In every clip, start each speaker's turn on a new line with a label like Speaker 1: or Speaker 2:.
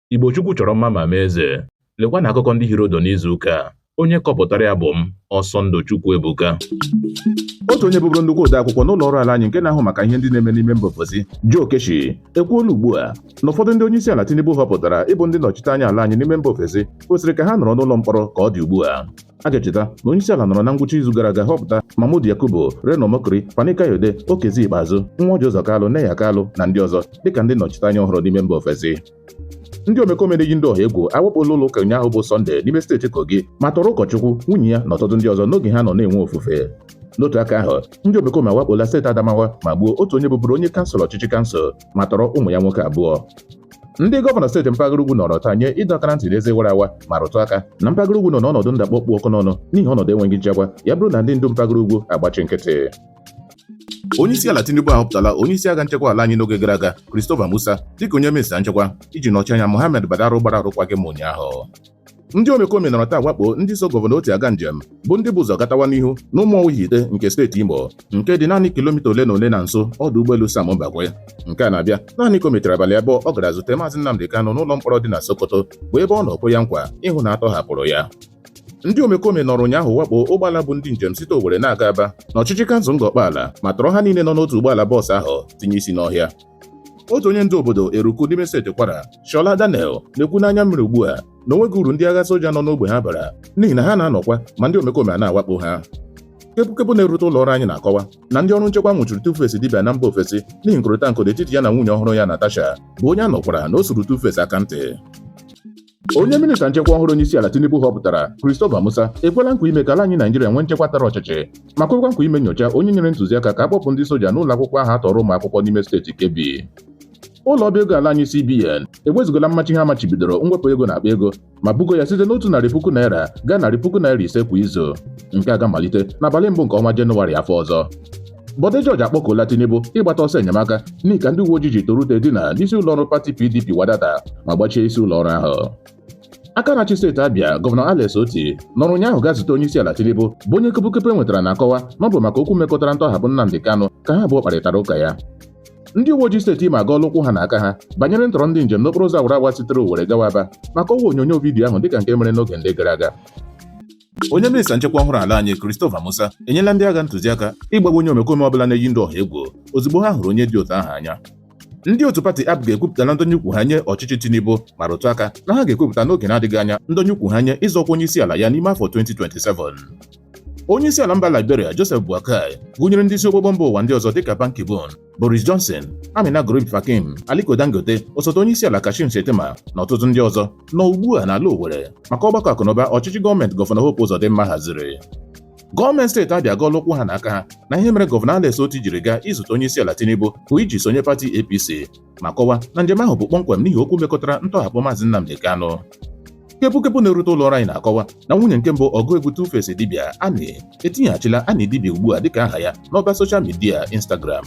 Speaker 1: Igbo Chukwu chọrọ mma ma mee eze. Lekwa na akụkọ ndị hịọrọ ụdụ n'izu ụka a. Onye kọpụtara ya bụ m, Ọsọndụ Chukwuebuka.
Speaker 2: otu onye bụbụrụ nnukwu odeakwụkwọ n'ụlọ ọrụ ala anyị nke na-ahụ maka ihe ndị na-eme n'ime mba ofesi Joe Keshi ekwuola ugbu a na ụfọdụ ndị onye isi ala Tinubu họpụtara ịbụ ndị nnọchite anya ala anyị n'ime mba ofesi kwesịrị ka ha nọrọ n'ụlọ mkpọrọ ka ọ dị ugbu a a ga-echeta na onye isi ala nọrọ na ngwụcha izu gara aga họpụta Mahmood Yakubu Reno Omokri Fani Kayode Okezie Ikpeazụ nwa Orji Ụzọ Kalụ Neya Kalụ na ndị ọzọ dịka ndị nnọchiteanya ọhụrụ n'ime mba ofesi ndị omekome na-eyi ndị ọha egwu awakpola ụlọ ụka ụnyaahụ bụ Sọnde n'ime steeti Kogi ma tọrọ ụkọchukwu nwunye ya na ọtụtụ ndị ọzọ n'oge ha nọ na-enwe ofufe n'otu aka ahụ ndị omekome awakpola steeti Adamawa ma gbuo otu onye bụbụrụ onye kansụl ọchịchị kansụl ma tọrọ ụmụ ya nwoke abụọ ndị gọvanọ steeti mpaghara ugwu nọrọ taa nye ịdọ aka na ntị n'eze wara awa ma rụtụ aka na mpaghara ugwu nọ n'ọnọdụ ndakpọ kpụ ọkụ n'ọnụ n'ihi ọnọdụ enweghị nchekwa ya bụrụ na ndị ndu mpaghara ugwu agbachi nkịtị onyeisiala tinubu ahọpụtala onyeisi agha nchekwa ala anyị n'oge gara aga christopher musa dịka onye minista nchekwa iji nọchie anya mohammed badaru gbara arụkwaghịm ụnyaahụ ndị omekome nọrọ taa wakpo ndị so gọvanọ otti aga njem bụ ndị bu ụzọ gatawa n'ihu n'ụmụọwa ihitte nke steeti imo nke dị naanị kilomita ole na ole na nso ọdụ ụgbọelu sam mbakwe nke a na-abịa naanị ka o mechara abalị abụọ ọ gara zute maazị nnamdị kanụ n'ụlọ mkpọrọ dị na sokoto bụ ebe ọ nọ kwe ya nkwa ịhụ na a tọhapụrụ ya ndị omekome nọrọ ụnyaahụ wakpo ụgbọala bu ndị njem site Owerri na-aga Aba n'ọchịchị kansụl Ngor Okpala ma tọrọ ha niile nọ n'otu ụgbọala bọọsụ ahụ tinye isi n'ọhịa otu onye ndu obodo Eruku n'ime steeti Kwara Shola Daniel na-ekwu n'anya mmiri ugbu a na o nweghị uru ndị agha soja nọ n'ogbe ha bara n'ihi na ha na-anọkwa ma ndị omekome a na-awakpo ha kepụkepụ na-erute ụlọ ọrụ anyị na-akọwa na ndị ọrụ nchekwa nwụchiri Tuface Idibia na mba ofesi n'ihi nkụrịta nkụ n'etiti ya na nwunye ọhụrụ ya Natasha bụ onye a nụkwara na o suru Tuface aka ntị onye minista nchekwa ọhụrụ onyeisiala Tinubu họpụtara Christopher Musa ekwela nkwa ime ka ala anyị Naijiria nwee nchekwa tara ọchịchị ma kwekwa nkwa ime nyocha onye nyere ntụziaka ka a kpọpụ ndị soja n'ụlọ akwụkwọ ahụ a tọọrọ ụmụ akwụkwọ n'ime steeti Kebbi ụlọ ọba ego ala anyị CBN ewezugala mmachi ha machibidoro mwepụ ego n'akpa ego ma bugo ya site n'otu narị puku naira gaa narị puku naira ise kwa izu nke a ga-amalite n'abalị mbụ nke ọnwa Jenụwarị afọ ọzọ Bode George akpọkuola Tinubu ịgbata ọsọ enyemaka n'ihi ka ndị uwe ojii ji tọrọ ute dina n'isi ụlọọrụ pati PDP wadata ma gbachie isi ụlọọrụ ahụ aka na-achị steeti Abia gọvanọ Alex Otti nọrọ ụnyaahụ gaa zute onye isi ala Tinubu bụ onye kepụkepụ e nwetara na-akọwa na ọ bụ maka okwu mekọtara ntọhapụ Nnamdi Kanu ka ha abụọ kparịtara ụka ya ndị uwe ojii steeti Imo agọọla ụkwụ ha na aka ha banyere ntọrọ ndị njem n'okporo ụzọ awara awa sitere Owerri gawa Aba ma kọwaa onyonyo vidiyo ahụ dịka nke mere n'oge ndị gara aga Onye minista nchekwa ọhụrụ ala anyị Christopher Musa enyela ndị agha ntụziaka ịgbagbu onye omekome ọbụla na-eyi ndị ọha egwu ozugbo ha hụrụ onye dị otu ahụ anya ndị otu pati APGA ekwupụtala ndọnye ụkwụ ha nye ọchịchị Tinubu ma rụtụ aka na ha ga-ekwupụta n'oge na-adịghị anya ndọnye ụkwụ ha nye ịzọ ọkwa onye isi ala ya n'ime afọ 2027 onye isi ala mba Liberia Joseph Boakai gụnyere ndị isi ogbogbo mba ụwa ndị ọzọ dịka Ban Ki-moon Boris Johnson, Ameenah Gurib-Fakim, Aliko Dangote, osote onye isi ala Kashim Shettima na ọtụtụ ndị ọzọ nọ ugbu a n'ala Owerri maka ọgbakọ akụnụba ọchịchị gọọmenti gọvanọ Hope Uzodimma haziri. Gọọmenti steeti Abịa agọọla ụkwụ ha na aka ha na ihe mere gọvanọ Alex Otti jiri gaa izute onye isi ala Tinubu bụ iji sonye pati APC ma kọwaa na njem ahụ bụ kpọmkwem n'ihi okwu mekọtara ntọhapụ Maazị Nnamdi Kanu. kepụkepụ na-erute ụlọ ọrụ anyị na-akọwa na nwunye nke mbụ ọgụ egwu Tuface Idibia Annie etinyeghachila Annie Idibia ugbu a dịka aha ya n'ọba soshal midia Instagram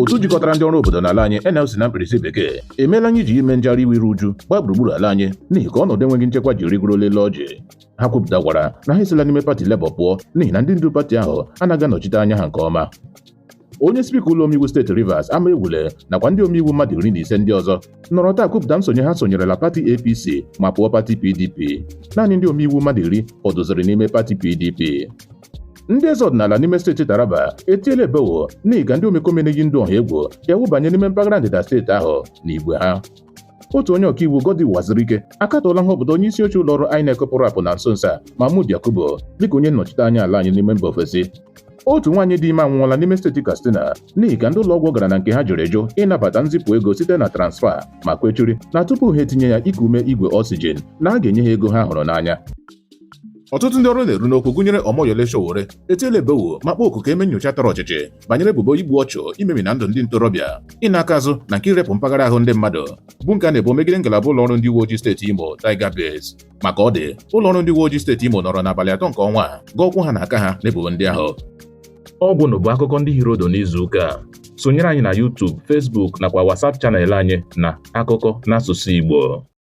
Speaker 2: otu jikọtara ndị ọrụ obodo n'ala anyị NLC na mkpirisi bekee emeela anyị ji ime njegharị iwe iru uju gbaa gburugburu ala anyị n'ihi ka ọnọdụ enweghị nchekwa ji rigorola elu ọjị ha kwupụtakwara na ha esila n'ime pati Labour pụọ n'ihi na ndị ndu pati ahụ anaghị anọchite anya ha nke ọma onye spika ụlọ omeiwu steeti Rivers Amaewhule nakwa ndị omeiwu mmadụ iri na ise ndị ọzọ nọrọ taa kwupụta nsonye ha sonyerela pati APC ma pụọ pati PDP naanị ndị omeiwu mmadụ iri fọdụziri n'ime pati PDP ndị eze ọdịnala n'ime steeti Taraba etiela ebewo n'ihi ka ndị omekome na-eyi ndụ ọha egwu ji awụbanye n'ime mpaghara ndịda steeti ahụ n'igwe ha otu onye ọkaiwu Goddy Uwazurike akatọọla nhọpụta onye isi oche ụlọ ọrụ INEC pụrụ apụ na nso nso a Mahmood Yakubu dịka onye nnọchite anya ala anyị n'ime mba ofesi otu nwaanyị dị ime anwụọla n'ime steeti Katsina n'ihi ka ndị ụlọọgwụ ọ gara na nke ha jụrụ eju ịnabata nzipụ ego site na transfa ma kwechiri na tupu ha etinye ya iku ume igwe oxygen na a ga-enye ha ego ha hụrụ n'anya ọtụtụ ndị ọnụ na-eru n'okwu gụnyere Omoyele Sowore etiela ebewo ma kpọọ oku ka e mee nyocha tọrọ ọchịchị banyere ebubo igbu ọchụ imemina ndụ ndị ntorobịa ịna aka azụ na nke irepụ mpaghara ahụ ndị mmadụ bụ nke a na-ebo megide ngalaba ụlọ ọrụ ndị uwe ojii steeti Imo Tiger Base ma ka ọ dị ụlọ ọrụ ndị uwe ojii steeti Imo nọrọ n'abalị atọ nke ọnwa a gọọ ụkwụ ha na aka ha n'ebubo ndị ahụ ọ gwụnụ
Speaker 1: bụ akụkọ ndị hiri ụdụ n'izu ụka a. sonyere anyị na YouTube, Facebook nakwa WhatsApp chanel anyị na akụkọ n'asụsụ Igbo